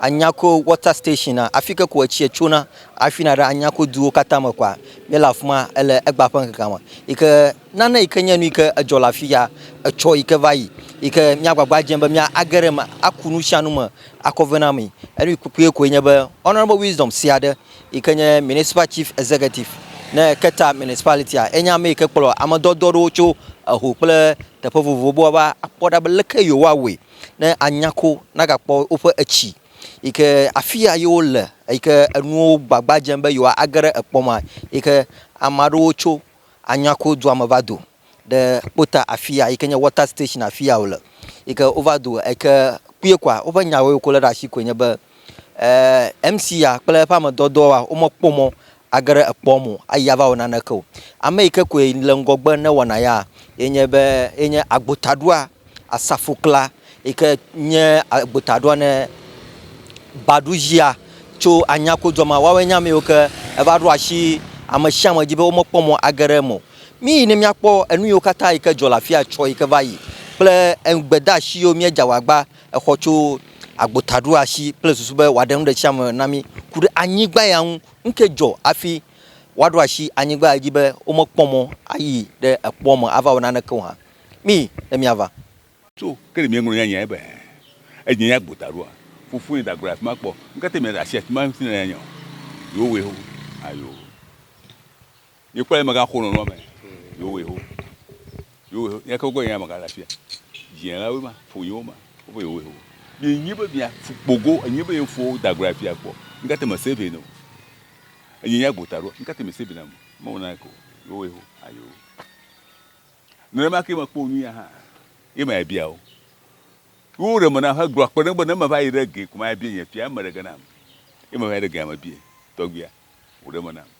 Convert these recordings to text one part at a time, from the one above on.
Anyako water station a afi ke ko etsia tsona afi na ɖe Anyako duwo katã me koa míele afi ma ele egba ƒe ŋkekea me yi ke nane yi ke nye nu yi ke edzɔ le afi ya etsɔ yi ke va yi yi ke míagbagba dzem be míage ɖe eme aku nu sia nu me akɔ vɛ na amee. Enu kpukpui koe nye be Honourable Wisdom Sea aɖe yi ke nye Municipal Chief Executive ne Keta Municipality-a enye ame yi ke kplɔ ame dɔdɔ aɖewo tso eho kple teƒe vovovowo be woava akpɔ ɖa be leke yewoawɔe ne anya ko nagakpɔ woƒe etsi yi ke afi ya ye wole yi ke enuwo gbagba dzem be yewoage ɖe ekpɔ mea yi ke ame aɖewo tso Anyako-dua me va do ɖe kpota afi ya yi ke nye wɔta station afi ya wole yi ke wova do yi ke kpuie koa woƒe nyawo yi ke wolé ɖe asi koe nye be. Ɛɛ, MC ya kple eƒe ame dɔdɔa womekpɔ mɔ age ɖe ekpɔa me o ayi ava wɔ naneke o. Ame yi ke koe le ŋgɔgbe ne wɔna ya ye nye be, ye nye agbotaɖoa, asafokla yi ke nye agbotaɖoa ne Baɖuzia tso anyakodua me. Woawoe nye ame yiwo ke eva ɖo asi ame sia ame dzi be womekpɔ mɔ age ɖe eme o. Míyi ne míakpɔ enu yiwo katã yi ke dzɔ le afi ya tsɔ yi ke va yi kple enu gbedeasi yiwo míedze awu agba exɔ tso agbota ɖo asi kple susu be wòaɖe nu ɖe tsia me na mí ku ɖe anyigba ya ŋu. Nu kae dzɔ hafi woaɖo asi anyigba ya dzi be womekpɔ mɔ ayi ɖe ekpɔa me ava wɔ naneke o hã? Mí ne míava. Tso ke ɖe míeŋlɔ nya nyae be edze nye agbota ɖoa? Fofo nye dagblɔ le afi ma kpɔ. Nu ka te miada asi afi ma ŋuti ne nanya o? Yewowoe ho. Ayo. Ye kpɔe mega xo nɔnɔ me. Yo we ho. Yo we ho. Nye koko nye mega la fia. Jien la we ma. Fo nye wo ma. Wo be yo we ho. Nye nye be mia fu kpogo. Nye be yo fo da gura fia kpɔ. Nga te me se ve no. Nye nye agbo ta ro. Nga te me se ve na mo. Mo na ko. Yo we ho. Ayo. Ne ma ke me kpo nu ya ha. Ye ma ya bia wo. Wo re me na ha gro akpe ne be ne me va yi re ge kuma ya bia nye fia me re ge na. Ye me va yi re ge ya me bia. Togbia. Wo re me na.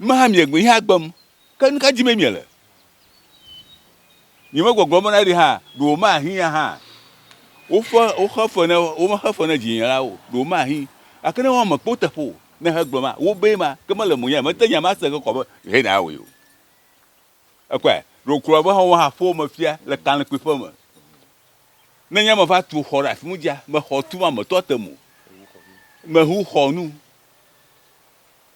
Numaha miegbee hea gbem, ke nu ka dim miele? Nyemegbɔgblɔ be na ɖi hã ɖe womahiã hã woƒe woxe fe ne womexe fe ne dzinye la o, ɖe womahi gake ne woame kpo teƒe o ne hegblɔ ma wobee ma ke mele mo nya mete nya ma se ke kɔ be hɛ na awɔe o. Ekpɔe ɖe wokplɔ be hã woha ƒo me fia le kalẽkpui ƒe me. Ne nye me va tu xɔ ɖe afi mu dzia, me xɔ tu ma me tɔ te mo. Me hu xɔ nu.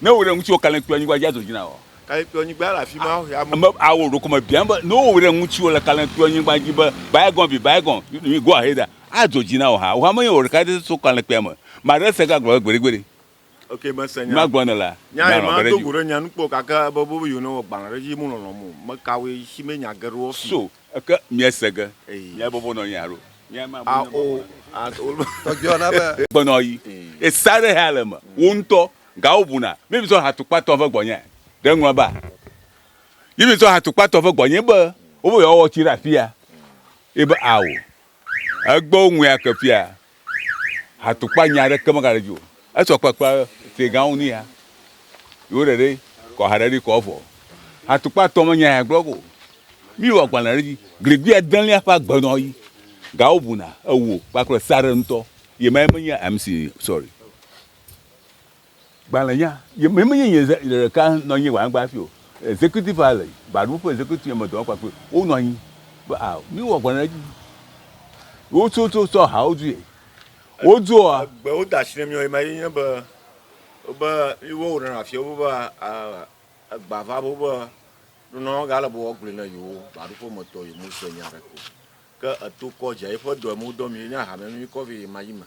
Ne wò ɖe ŋuti wò kalẽkpɔ anyigba dzi ado dzina wò. Kalẽkpɔ anyigba le afi ma wò ya mo. Awɔ ɖokɔ me biam be ne wò ɖe ŋuti wò le kalẽkpɔ anyigba dzi be bygone be bygone you go ahead ado dzi na wò ha. Wò ha me nye wò ɖeka ɖe so kalẽkpɔa me. Ma ɖe se ga gblɔ be gbeɖe gbeɖe. Ok me se nya. Ma gblɔ ne la. Nya ye ma do go ɖe nya nu kpɔ gake ebe be yio ne wɔ gbalẽ ɖe dzi mo lɔlɔ mo me ka wò ye si me nya geɖe wɔ fi. So Eke miese ge miabɔbɔ nɔ anyi alo miame abu ne bɔbɔ nɔ anyi? Gbe nɔ yi ye sa ɖe hea le me wo ŋutɔ ga wo buna mi mi sɔ ha tukpa tɔ ve gbɔ nye ɖe ŋlɔ ba yi mi sɔ ha tukpa tɔ ve gbɔ nye be wo be yɔ wɔ tsi ɖe afia yi be ao egbe wo ŋu ya ke fia Atukpa nya ɖe ke me ga ɖe dzi o. Esɔ kpakpa te ga ŋu nia. Yo ɖe ɖe kɔ ha ɖe ɖi kɔ vɔ. Atukpa tɔ me nya ya gblɔ go. Mi wa gbalẽ ɖe dzi. Gligli ya deli ya fa gbe nɔ yi. Ga wo buna ewo kpakple sa ɖe ŋutɔ. Ye ma ye me nya MC sorry. Gbalẽnya, ye me menye nye ɖe ɖeka nɔ anyi gbalẽgba hafi o. Executive hã le gbalẽwo ƒe executive ame dɔwɔƒea kple wo nɔ anyi be a míwɔ gbalẽ ɖe edzi. Wotsɔ tsɔ tsɔ hawo due. Wodzɔa. Egbewo da asi nɛ míawo ema ye nye be wobe yewo wɔ nɔnɔ afia wobe egba va be wobe nunɔla gale be woagblɔe na yewo gbaɖuƒe me tɔ yewo me se nya ɖeke o. Ke eto kɔdzia yeƒe dɔ yi me wodɔ mi ye nye ahamea mi kɔ vɛ ɣemaɣi me.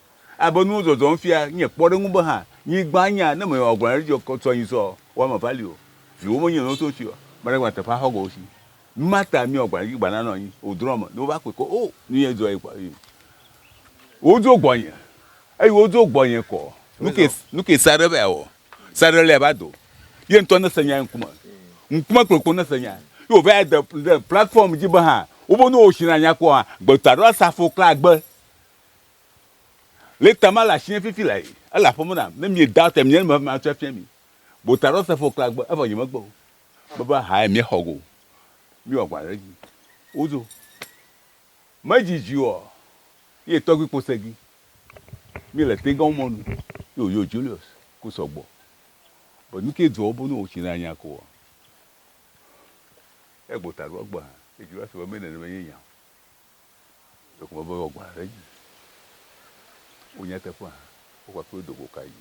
Abe nuwo zɔzɔm fia nye kpɔɖeŋu be hã nyigba nya ne mewɔ agblɔ aɖe dzi kɔ sɔ nyi sɔ wɔ eme va li o. Viwo menye nɔwo so tsi o. Mele gba teƒe axɔ go wo si. Mata miwɔ agblɔ aɖe dzi gba na nɔ anyi o drɔ me ne wova kpɔe kɔ o nu ye dzɔ ye kpɔ yi. Wo dzo gbɔnye eyi wo dzo gbɔnye kɔ nuke nuke saɖe va wɔ. Saɖe le va do ye ŋtɔ ne se nya ŋkume ŋkume kplokplo ne se nya ye wo va ya de de platform dzi be hã wo be nuwo si na nya kɔ hã gbeta ɖo asafo kla gbe. Le tama le asinye fifi le ayi, ele aƒeme nam. Ne mie da te mie me ma tsɔ fia mi. Bo ta ɖo se fo kla gbe, evɔ nye me gbe o. Be be ha ye mie xɔ go. Mi wa gba ɖe dzi. Wo zo. Me dzi dzi o. Ye tɔgbi kpo segi. Mi le te gɔn mɔnu. Yo yo Julius. Ku sɔ gbɔ. Be nu ke dzɔ bo nu o tsi na nya ko o. Egbo ta ɖo gbe ha. Ye Julius be me ne ne me ye nya o. Ɖeko mebe yewoagblɔ ɖe edzi o. Nyateƒea, wokɔ akpe do go kae?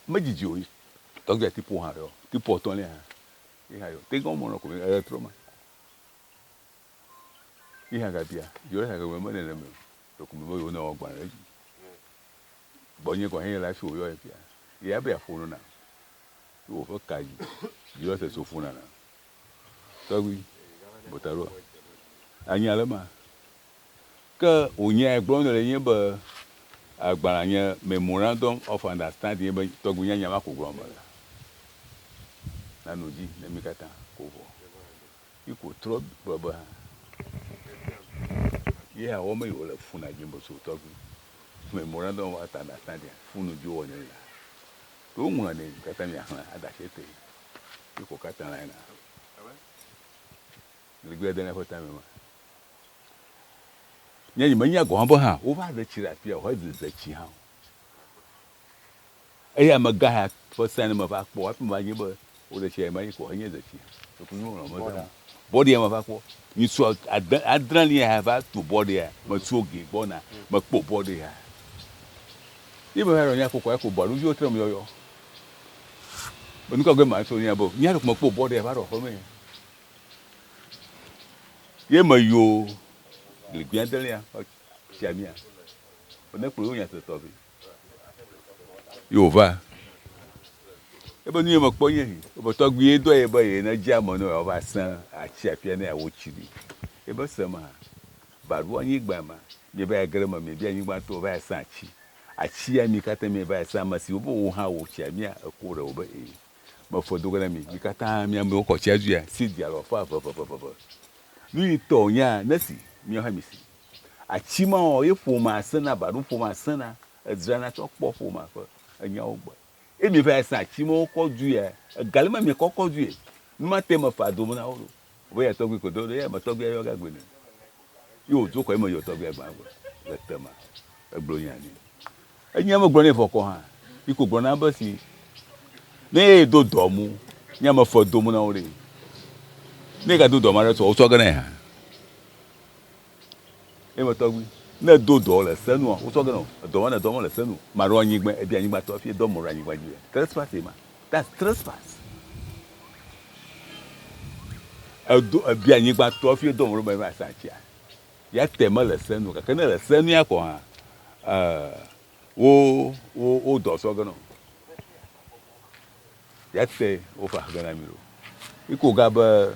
Medzidzi o. Tɔgbia Tipo hã ɖɔ. Tipo etɔ̃lia hã. Ye hã ɖɔ. Te gã womlɔ ko le trɔ me. Ye hã gabia, yɔ ɖe hã gagblɔ be nene me o. Ɖeko mebe yewo ne woagblɔ ɖe edzi. Gbɔnye gɔn hɛn le afi woyɔ ye fia. Ye abia ƒo nɔ na. Ye woƒe ka dzi. Yɔ se so ƒo nana. Tɔgbi bota ɖoa anya le ma ke o nya e gblɔ le nye be agbala nye memorandum of understand nye be tɔgbi nya nya ma ko gblɔ me le na no dzi ne mi kata ko vɔ yi ko trɔ gblɔ be ha ye awɔ me yo le funa dzi bo so tɔgbi memorandum of understand funu dzi wɔ ne la to ŋlɔ ne kata mi axla adashe te Yoko kata la ina. Ligbe de ne fota me ma. Nye yi menya gɔn bo ha. Wo va de ci la pia ho de de ci ha. Eye ame ga ha fo sa ne me va kpo ape ma nye be wo de ci ya ma yi ko nye de ci. Ko ku nyu lo me da. Body ya ma va kpo. Ni so adan adran ni ha va to body ya. Me so ge bona. Me kpo body ya. Ibe ha ro nya ko ko ko body yo tre me yo yo. Enu ka gbe ma so nya bo? Nya ɖe kuma kpo bɔ ɖe va ɖɔ xɔme. Ye me yo le gbia de lia tia mia. Ene kpo yo nya se tɔ be. Yo va. E be nu ye me kpɔ nye hi. E be tɔ gbi ye do ye be ye ne ja mo no ya va se a chi a pia ne ya wo chi di. E be se ma ba ru anyi gba ma. Ye be ya gre ma me bi anyi gba to va ya sa chi. Atsia mi katã mi va esa ame siwo be wo hã wo tsia mia eko ɖe wo be e me fe do ge na mi mi katã mi amewo kɔ tsia dzuia si dia lɔ fa veveveveve nu yi tɔ o nya ne si miawo hã mi si atsi ma o ye ƒo ma se na ba ɖo ƒo ma se na edzra na tsɔ kpɔ ƒo ma fe enya wo gbe e mi va esa atsi ma wo kɔ dzuia egali ma mi kɔ kɔ dzuie nu ma te me fa do me na wo ɖo Wobe yɛ tɔgbui ko do ɖo yɛ me tɔgbuia yɔ ga gbe nɛ. Yi wo do kɔ yi me yɔ tɔgbuia gba gbe le te ma. Egblɔ nya ni. Enyi ame gblɔ nɛ vɔ kɔ hã. Yi ko gblɔ na be si ne yɛ do dɔ mu nya me fe do mu na wo ɖe. Ne ga do dɔ ma ɖe tɔ wo tsɔ ge nɛ hã. Eme tɔgbi. Ne edo dɔ le se nua, wosɔ ge nɔ edɔ ma ne edɔ ma le se nu. Maɖo anyigba, ebi anyigba tɔ hafi edɔ mɔ ɖe anyigba dzi. Trespass ye ma. That's trespass. Edo ebi anyigba tɔ hafi edɔ mɔ ɖe meva sa tsia. Ya te me le se nu gake ne le se nu ya kɔ hã eh wo wo wo dɔ sɔ ge nɔ. Ya te wo fa ge na mi lo. Iko ga be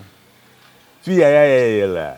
fi ya ya ya ye le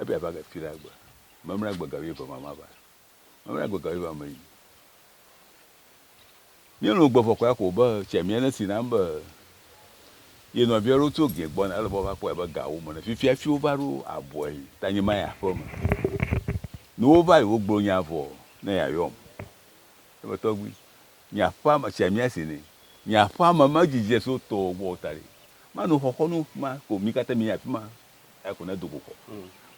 Ebe yeava ge fiɖe agbe memla gbe ga wuieve ma mava. Memla gbe ga wuieve ma meyi. Míelɔ̃ gbe vɔ ko ya ko be tsia mía ne si nam be ye nɔvi aɖewo tso gɛ gbɔna ele be woava kpɔe be gawo me ne fifia hafi wova ɖo abɔe ta nye mayi aƒeme. Ne wova yi wogblɔ nya vɔ ne yeayɔm. Ebe tɔgbui, nye aƒea me tsia mía si nɛ. Nye aƒea me medidi le so tɔwò gbɔ o ta ɖe manɔ xɔxɔnu ma ko mí katã míayi afi ma Eya ko nedo go kɔ.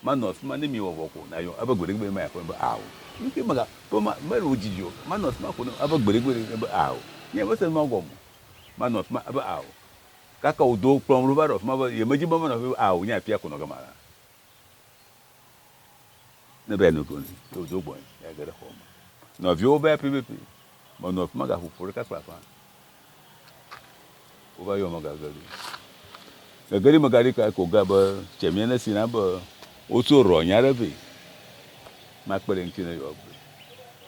Manɔ afi ma ne miewɔ vɔ ko nayɔ ebe gbeɖegbeɖe maya ko nebe aa o. Nukee mega be ma mele wo didi o. Manɔ afi ma ko ne ebe gbeɖegbeɖe nebe aa o. Nye mese nua gɔme o. Manɔ afi ma ebe aa o. Gake wodo kplɔm ɖo va ɖo afi ma be yemedi be manɔ afi ma ebe aa o. Nye afia ko nɔ gama la. Ne be no gonzi, ne wodo gbɔe, ya ge ɖe xɔ me. Nɔviwo be pipipi, menɔ afi ma gaƒo ƒo ɖeka kple aƒã. Wova yɔ megage ɖi. Gege ɖi megaɖi ka ko ga be tse mia ne si na be wotso rɔ nya ɖe vɛ. Makpe ɖe ŋuti ne yɔ gbe.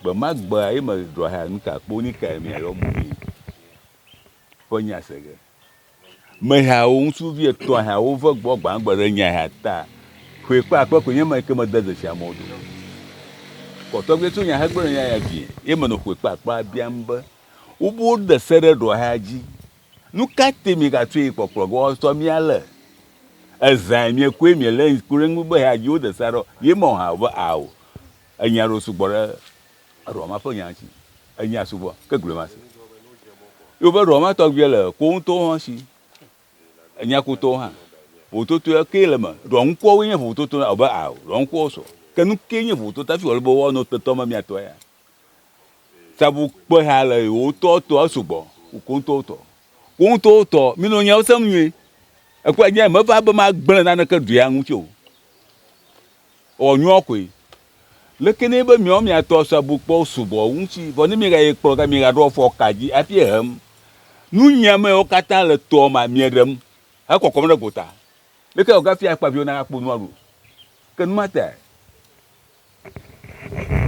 Gbe ma gbe ayi me ɖɔ ha nu ta kpo ni ka mia yɔ mo mi. Ƒe nya se ge. Mehawo, ŋutsuvi etɔ̃ hawo ve gbɔ gbãgbe ɖe nya ha ta. Ƒe kpe akpe koe nye ma ke mede dzesi amewo do. Kɔtɔgbia tso nya hegblɔ ɖe nya ya vie, ye menɔ ƒe kpe akpea biam be, wobe woɖe se ɖe ɖɔ ha dzi. Nu ka te miegatsoe kpɔkplɔ ge woatɔ mi ale? Ezãe miekpɔe miele ŋku ɖe eŋu be ha dzi woɖe se ɖɔ, ye mɔ ha be ao. Enya ɖewo sugbɔ ɖe Eɖɔ ma ƒe nya si enya subɔ ke gblɔe ma si. Ye woƒe ɖɔ ma tɔgbi le kpo ŋutɔwo hã si. Enya kutɔwo hã. Vovototoe ke le me. Ɖɔ ŋkuawo nye vovototo na abe a ɖɔ ŋkuawo sɔ. Ke nu ke nye vovototo hafi wòle be woanɔ tetɔ me miatɔ ya. Sabu kpe ha le wotɔ tɔ esugbɔ koko ŋutɔwo tɔ. Wo ŋutɔwo tɔ minɔ nyawo sem nyuie. Ekpɔ nya meva be magblẽ naneke ɖɔa ŋuti o. Ewɔ nyuɔ koe. Leke nɛ be miɔ mia tɔ sɔ bu kpɔ subɔ ŋuti, vɔ ne mi ga ye kplɔ ga mi ga ɖɔ fɔ ka dzi afi ehem. Nu nyia me wo kata le tɔ ma mie ɖem he kɔkɔm ɖe gota. Leke wo ga fia kpa viwo na ga kpo nua ɖo? Ke nu ma tae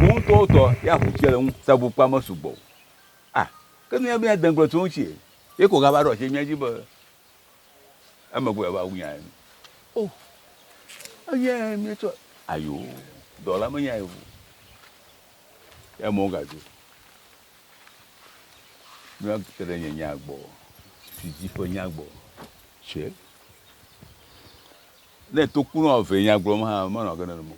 wo ŋutɔ wo tɔ ya ʋu tsia le ŋu sɔ bu kpɔ ame sugbɔ o. Ah, ke nu ya be ya degblɔ tso ŋuti ye ko ga va ɖɔ tse mia dzi be. Emegbe va wunya enu. O, eye míetsɔ ayo dɔ la menya ye o. Emɔ wogadzo. Míva te ɖe nye nya gbɔ, si dzi ƒe nya gbɔ. Tse. Ne tokunɔ eve nya gblɔm hã, menɔ ge nenema o.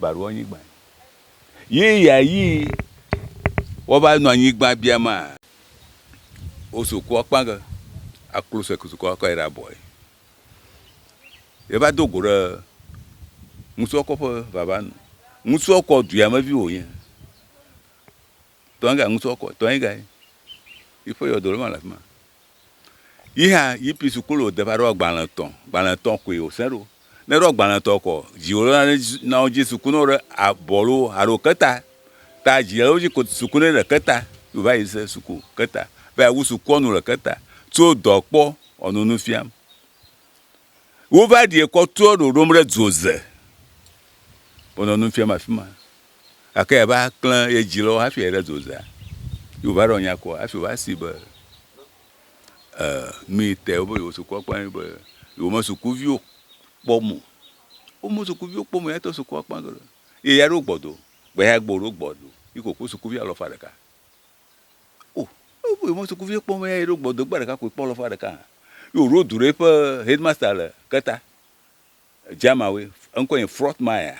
Baɖo anyigba yi ya yi wova nɔ anyigba bia ma wosoko akpa ge aklo se soko akɔ yi ɖe abɔ yi yeva do go ɖe ŋutsua kɔƒe vava nu ŋutsua kɔ duyame vi wonye tɔ ega ŋutɔ kɔ tɔ ega yi yi ƒe yɔdo lɔ ma le afima yi hã yi pi su kolo de va ɖɔ gbalẽ tɔ gbalẽ tɔ koe o sɛn ɖo ne ɖɔ gbalẽ tɔ kɔ dzi o lɔna na wo dzi suku na wo ɖe abɔ lo alo keta ta dzi wo dzi ko suku ne le keta yi va yi se suku keta be awu suku ɔnu le keta tso dɔ kpɔ ɔnu nu fiam wo va ɖi ekɔ tɔ ɖoɖom ɖe dzoze wonɔ nu fiam afima gake ya va klẽ ye dzi lɔ hafi ayi ɖe dozea, ye wòva ɖɔ nya kɔ hafi wòva si be e nu yi te wobe yewo sukua kpɔ ye be yewo me sukuviwo kpɔm o. Wo me sukuviwo kpɔm o ya tɔ sukua kpɔ ge ɖo ye ya ɖo gbɔ do. Gbe ya gbe wòɖo gbɔ do yi ke wòkpɔ sukuvi alɔfa ɖeka. O ne wobe yewo me sukuviwo kpɔm o ya yi ɖo gbɔ do gbe ɖeka koe kpɔ alɔfa ɖeka hã. Ye wòɖo du ɖe eƒe headmaster le keta. Germanwoe, eŋkɔe nye Frotmeier,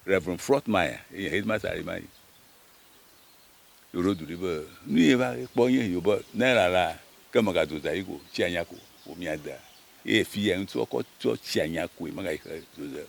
Rev. Frotmeier, ye nye Headmaster aɖe ma yi. Ye wòɖo du ɖi be, Nu ye va kpɔ nye esi be Naira la, ke megado zã yi ko tsi anya ko wòmia dea, eye fiya ŋuti woakɔ tsɔ tsi anya koe, megayi xe zoze o.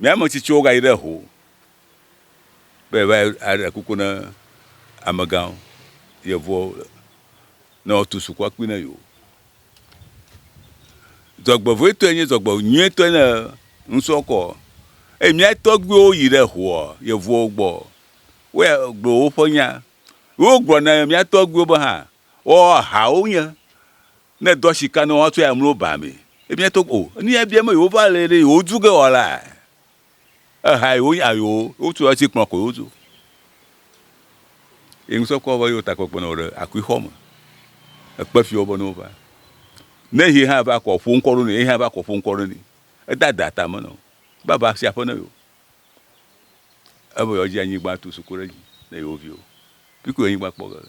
Mía me tsitsiwo gayi ɖe ho be va aɖe kuku ne amegãwo, yevuwo ne woatu sukua kpui ne yewo. Dzɔgbevɔetɔe nye dzɔgbenyuietɔe ne ŋutsua kɔ. Eye mía tɔgbuiwo yi ɖe hoa yevuwo gbɔ. Woya gblɔ woƒe nya. Wogblɔ na mía tɔgbuiwo be hã woahawo nye. Ne èdo asi ka ne woatsɔe amlo baa mee? Ebia to o. Nu ya bia be yewova le ɖe yewodu ge wɔla? Eha yewo nya yewo. Wotu asi kplɔ ko yewotu. Ye ŋusɔ kɔ be yewo ta kpekpe nɔ ɖe akui xɔ me. Ekpe fiwo be ne wova. Ne ye hã va kɔ ƒo ŋkɔ ɖo ne ye hã va kɔ ƒo ŋkɔ ɖo ne. Eda da ta me nɔ. Be ava si aƒe ne yewo. Ebe yewo dzi anyigba tu suku ɖe dzi ne yewo viwo. Pikui anyigba kpɔ ge.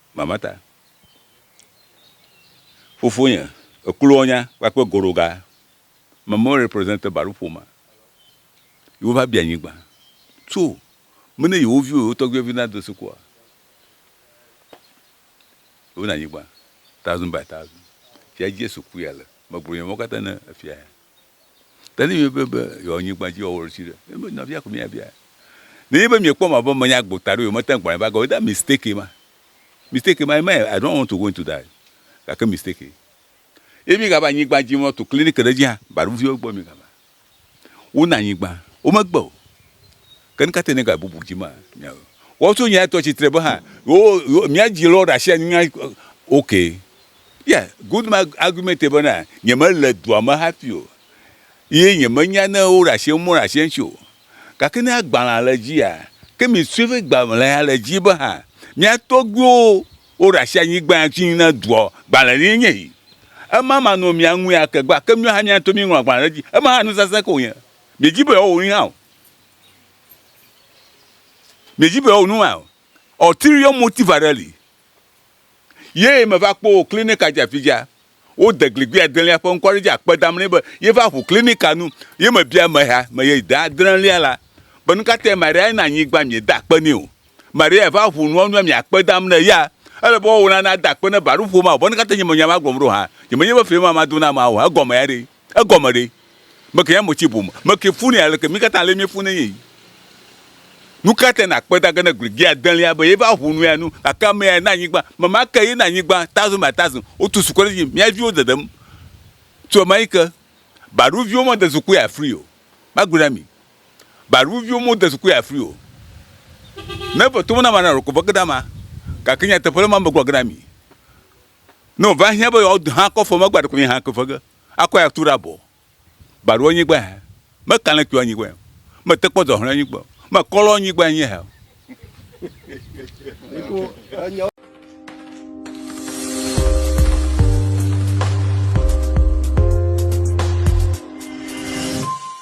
Mama ta. Fofonye, Eklonya kpakple Goɖoga Mama represente Baɖo ƒomea. Yewo va bia nyigba. Tso me ne yewo viwo, yewo tɔgbiwo vi na do sukua. Yewo na nyigba. Thousand by thousand. Fia Jesu kpɔe ale. Megblɔ nya mawo katã ne efia ya. Tadi be be yeawɔ nyigba dzi wɔwɔ ɖe. Ebe nɔvia ko mia bia. Ne nye be mia kpɔm abe menya gbo ta ɖo ye mete gbalẽ va gɔ. Weda mistake ma. Mistake ma ema I don't want to go into that. Gake mistake. Ye mi gava nyigba dzi mɔ tu clinic ɖe dzi hã baɖo viwo gbɔ mi gava. Wona nyigba. Wome gbe o. Ke nu ka tae negabubu dzi ma nya o? Woato nya etɔ tsitre be hã yewo yewo mía dzi lɔ ɖe asi anyi na ok. Ya good ma argument be na nyemele dua me hafi o ye nyemenya ne woɖe asi eŋu meɖe asi eŋuti o. Gake ne agbalẽa le dzia ke mi sue be gbalẽa le dzi be hã mía tɔgbuiwo woɖe asi anyi gbã ŋuti na dua gbalẽ ye nye yi. Ema manɔ mia ŋu ya ke gbã ke mía hã mía ŋutɔ mí ŋlɔ agbalẽ ɖe edzi. Ema hã nusasẽ ko wonye. Miedzi be yewoawɔ nu hã o. Miedzi be yeawɔ nu maa? Ulterior motive aɖe li. Ye meva kpɔ wò klinika dzi afi dzia, wode gligui adelia ƒe ŋkɔ ɖe dzi akpe dam nɛ be yeva ʋu klinika nu. Ye mebia ameha me ye de adrelia la be nu ka tae Maria na anyigba miede akpe nɛ o. Maria va ʋu nua nua miakpe dam ne ya. Ele be woawò la nade akpe ne baɖoƒo ma o be nu ka tae nye menye ema gblɔm ɖo hã. Nyemenye be fiẽ ma mado na amea o hã. Egɔmea ɖee? Egɔme ɖe? Meke ya motsi ƒo me. Meke funɛ aleke? Mí katã ale míefunɛ nye yi. Nuka tae nàkpe ta ge ne gli dze adelia be yeva ʋu nu ya nu? Gake ame yae na anyigba. Ame ma ke ye na anyigba tazo ma tazo. Wotu zukɔ ɖe edzi. Mía viwo dedem tso ɣemaɣi ke. Baɖu viwo mede zukui afri o. Magblɔe na mi. Baɖu viwo mode zukui afri o. Ne eve to me na ame aɖe la, ɖeko veke ɖe ama. Gake nyateƒe ɖe ma megblɔ ge na mi. Ne ova hiã be yewoado hã kɔ fɔ megba ɖeko nye hã ke fe ge akɔe atu ɖe abɔ. Baɖo anyigba hɛ. Me kalẽ kpɔ anyigba hɛ. Me te kpɔ dɔhlɛ anyigba. Me kɔlɔ anyigba nye hɛ.